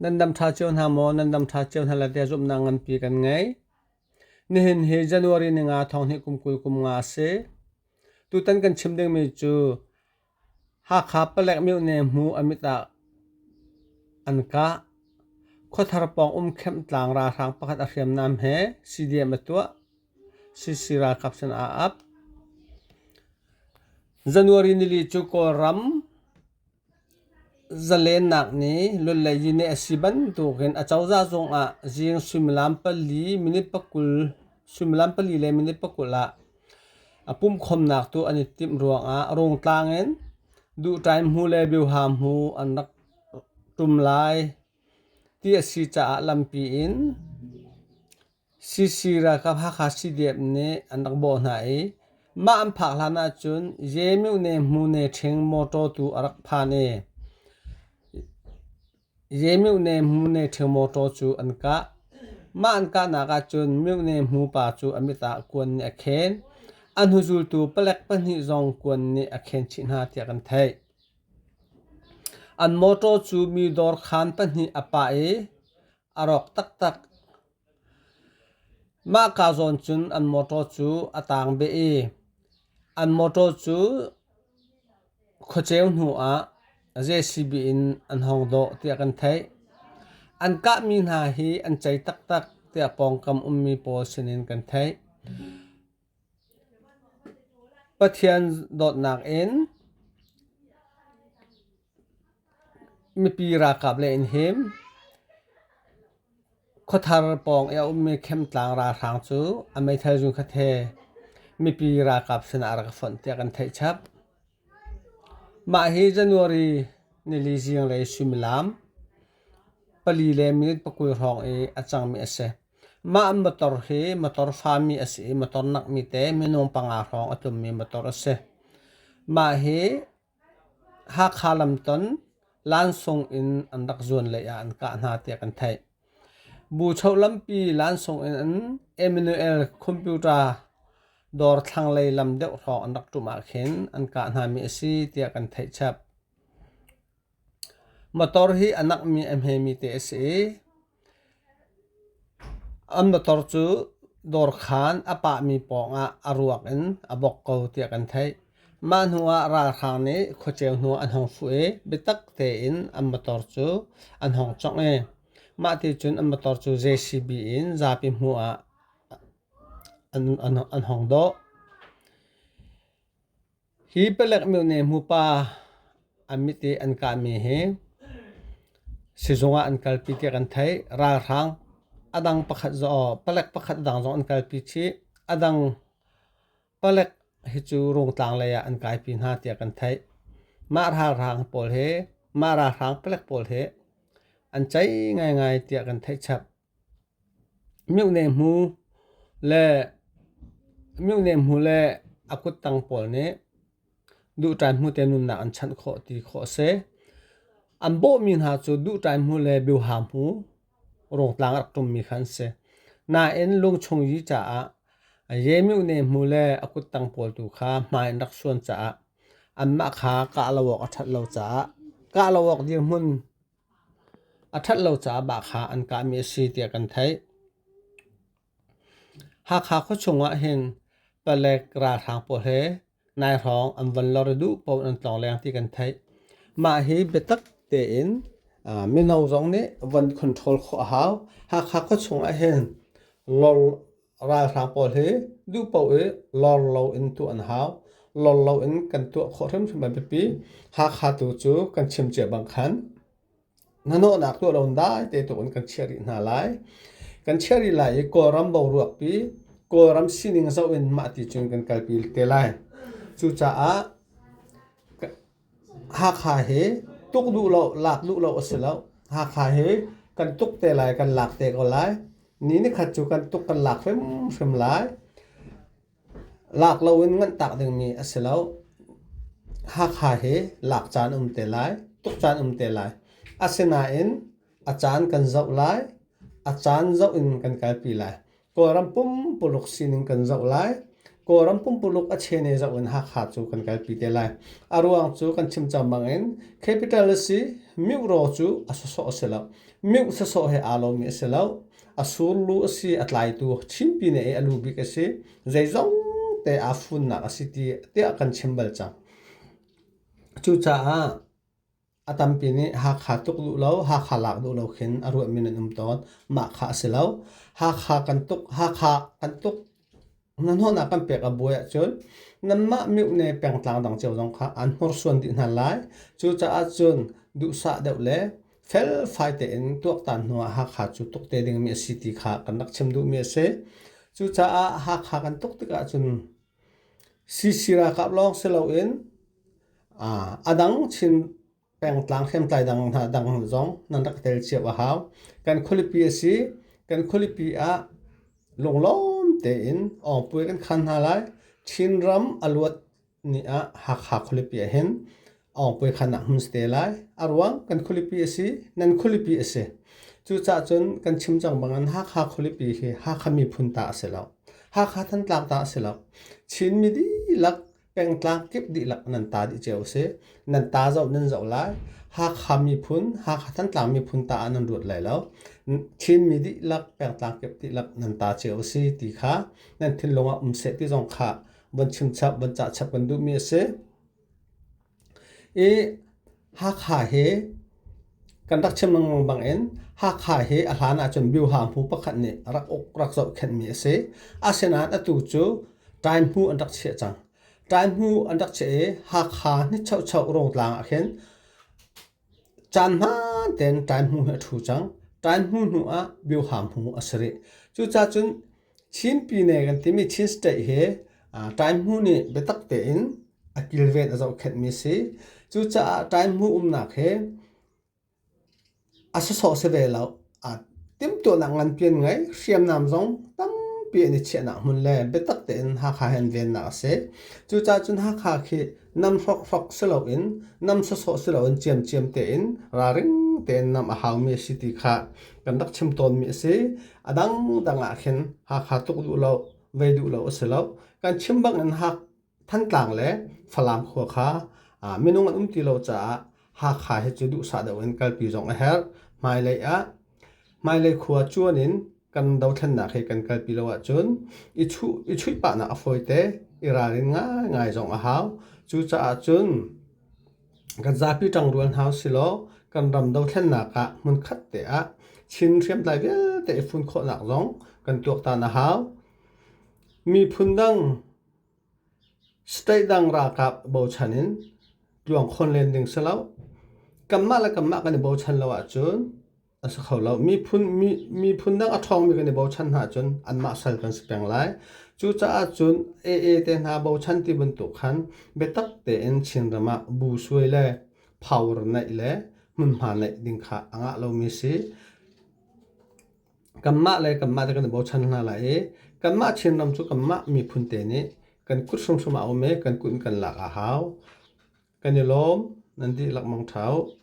Nan dam ṭha cio hna maw? Nan dam ṭha cio hna le zumhnak nganpi kan ngei. Nihin hi January ni nga thonghnih kum kul kum nga a si. Tutan kan chim dingmi cu Hakha palek mioh ne hmu a mit ah an kah. Khuathar pawng um Camp Tlang ralhrang pakhat a hriamnam he CDM a tuah. CC ralkap sin aa ap. January nili cu Kawlram Zalennak ni lulei yineh a si bantukin a cozah cungah zing suimilam pali minit pakul suimilam pali le minit pakul ah a pumhkhawmnak tu an i timh ruangah Rungtlang in Duhtaim hmu le Bioha hmu an rak ṭum lai ti a si caah lampi in CC ralkap Hakha CDF nih an rak bawh hna i mah an phak hlan ahcun Yemyuk ne Hmu ne Ṭhing mawṭaw tu a rak phan i Yemyuk ne Hmu ne Ṭhing mawṭaw cu an kah. Mah an kahnak ahcun Myuk ne Hmu pa cu a mit ah kuan nih a khen. A hnuzultu palek pahnih zong kuan nih a khen chih hna tiah kan theih. An mawṭaw cu mi dawrkhaan pahnih a pah i A rawk taktak. Mahka zawn cun an motor cu a taang beh i an motor cu khuaceu hnu ah JCB in an hong dawh tiah kan theih. An kahmi hna hi an cei taktak tiah pawngkam ummi pawl sinin kan theih. Pathian dawtnak in mipi ralkap le in him. Khuathar pawng i a ummi Khemtlang ralhrang cu a meithal zun khat he mipi ralkap sinah a rak fonh tiah kan theih chap. Mah hi January nili zinglei suimilam pali le minute pakul hrawng i a cangmi a si. Mah motor hi motor fami a si i motor nakmi te minung panga hrawng a tummi motor a si. Mah hi Hakha lamton lansung in an rak zuan lei ah an kah hna tiah kan theih. Bu cho lampi lansung in an Emmanuel computer dawr thlanglei lam deuh hrawng an rak ṭum ahkhin an kah hnami a si tiah kan theih chap. Motor hi a nakmi a hmemi te a si i an motor cu dawrkhaan a pahmi pawngah a ruak in a bok ko tiah kan theih. Mah hnuah ralhrang nih khuaceu hnuah an hong fuh i biatak tein an motor cu an hong congh i mah ti cun an motor cu JCB in zapi hmuhah an hong dawh. Hi palek myone hmupa an mit i an kahmi hi sizung ah an kalpi tiah kan theih. Ralhrang a dang pakhat zong palek pakhat dang zong an kalpi chih. A dang palek hi cu Rungtlang lei ah an kaipi hna tiah kan theih. Mah ralhrang pawl hi mah ralhrang palek pawl hi an ceih ngaingai tiah kan theih chap. Miohne hmu le a kuttang pawl nih duhṭai hmu te nunnak an chanh khawh ti khawh a si. An bawhmi hna cu duhṭai hmu le biaha hmu rungtlang a rak ṭummi kha an si. Nain lungchung yi caah ye-miohne hmu le a kuttang pawl tu kha hmai an rak suan caah anmah kha kah lo awk a ṭhat lo caah kah lo awk dirhmun a ṭhat lo caah baa kha an kahmi a si tiah kan theih. Hakha khuachung ah hin palek ralhrang pawl he nai hrawng an von lor i duh paoh an tlawng leng ti kan theih. Mah hi biatak tein ah, mino zong nih von control khawh a hau. Hakha khuachung ah hin lawng Ralhrang pawl hi duh paoh i lawr lo in tuah an hau. Lawr lo in kan tuah khawh hrimhrim a biapi. Hakha tu cu kan chim cia bang khan hnahnawhnak tuah lo in dai te tuk in kan chiah rih hna lai. Kan chiah rih lai i Kawlram boruakpi, Kawlram sining zoh in mah ti cun kan kalpi te lai. Cucaah Hakha hi tuk duh lo, lak duh lo a si lo. Hakha hi kan tuk te lai, kan lak te ko lai. Ni nikhat cu kan tuk kan lak hrimhrim lai. Lak lo in nganh tak dingmi a si lo. Hakha hi lak caan um te lai, tuk caan um te lai. Asinain A caan kan zoh lai. A caan zoh in kan kalpi lai. Kawlram pumpuluk sining kan zoh lai. Kawlram pumpuluk a chene zoh in Hakha cu kan kalpi te lai. A ruang cu kan chim cangmang in capital a si. Mingh raw cu a sawsawh a si lo. Mingh sawsawh he aa lomi a si lo. A surlu a si. A tlaitu chinpi ne i a lu bik a si. Zeizong te aa funnak a si tiah kan chim bal cang. Cucaah A tampi nih Hakha tuk duh lo, Hakha lak duh lo khin a ruahmi nan um tawn. Mah kha a si lo. Hakha kan tuk, Hakha kan tuk hnahnawhnak kan pek a buai ahcun nanmah mioh ne pengtlang dang cio zong kha an hnorsuan dih hna lai. Cucaah cun duhsah deuh le felfai tein tuaktan hnu ah Hakha cu tuk te dingmi a si ti kha kan rak chim duhmi a si. Cucaah Hakha kan tuk tikah cun Sisi ralkap lawng si loin a dang Chin pengtlang hriamtlai dang hna dang zong nan rak tel cio a hau. Kan khualipi a si. Kan khualipi ah lunglawm tein awngpuai kan khan hna lai. Chinram a luat ni ah Hakha khualipi ah hin awng puai khan ah hmun te lai arwang kan khulipi asi nan khulipi asi cucah cun kan chim cang bangin hakha khulipi hi hakha miphun ta asi lo hakha thantlak ta asi lo chin mi dihlak pengtlang kip dihlak nan ta dih ceu si nan ta zoh nan zoh lai hakha miphun hakha thantlang miphun ta ah nan ruat lai lo chin mi dihlak pengtlang kip dihlak nan ta ceu si ti kha nan thinlung ah um seh ti zong kha von chim chap von cah chap kan duh mi asi I Hakha hi kan rak chim lengmang bangin Hakha hi a hlan ahcun Biohahmu pakhat nih a rak uk rak zohkhenhmi a si. Asinain atu cu Taihmu an rak chiah cang. Taihmu an rak chiah i Hakha nichocho rotlang ah khin Caan hmaan tein ṭaihmu hi a ṭhu cang. Ṭaihmu hnuah biohahmu a si rih. Cucaah cun Chin pine kan timi Chin State hi ṭaihmu nih biatak tein a kilven a zohkhenhmi a si. Cucaah ṭaihmu umnak hi a sawsawh si ve lo. Timtuahnak nganpian ngai hriamnam zong tampi an i chiahnak hmun le biatak tein Hakha hi an vennak a si. Cucaah cun Hakha khi nam hrokhrok si loin nam sawsawh si loin ciamciam tein ralring tein nam a haumi a si ti kha kan rak chim tawnmi a si. A dangdang ahkhin Hakha tuk duh lo, vei duh lo a si lo. Kan chim bangin Hakha Thantlang le Falam khua kha minung an um ti lo caah Hakha hi cu duhsah deuh in kalpi zong a herh. Hmailei ah hmailei khua cuan in kan dothlennak hi kan kalpi lo ahcun i chuih pahnak a fawite, i ralrin ngaingai zong a hau. Cucaah cun kan zapi ṭang rual hau silaw kan ram dothlennak ah hmunkhat te ah Chin hriamtlai vialte i fun khawhnak zong kan tuaktan a hau. Miphun dang State dang ralkap bochan in tluang khawn len ding si lo. Kanmah le kanmah kan i bochan lo ahcun a si kho lo. Miphun, miphun dang a ṭhawngmi kan i bochan hna ahcun anmah sal kan si peng lai. Cucaah cun AA te hna bochan ti bantuk khan biatak tein Chinram ah bu suai le power neih le hmunhma neih ding kha a ngah lomi si. kanmah le kanmah te kan i bochan hna lai i kanmah Chinram cu kanmah miphun te nih kan kut hrimhrim ah a um i kan kut in kan lak a hau. Kan i lawm nan ti lengmang ṭhau.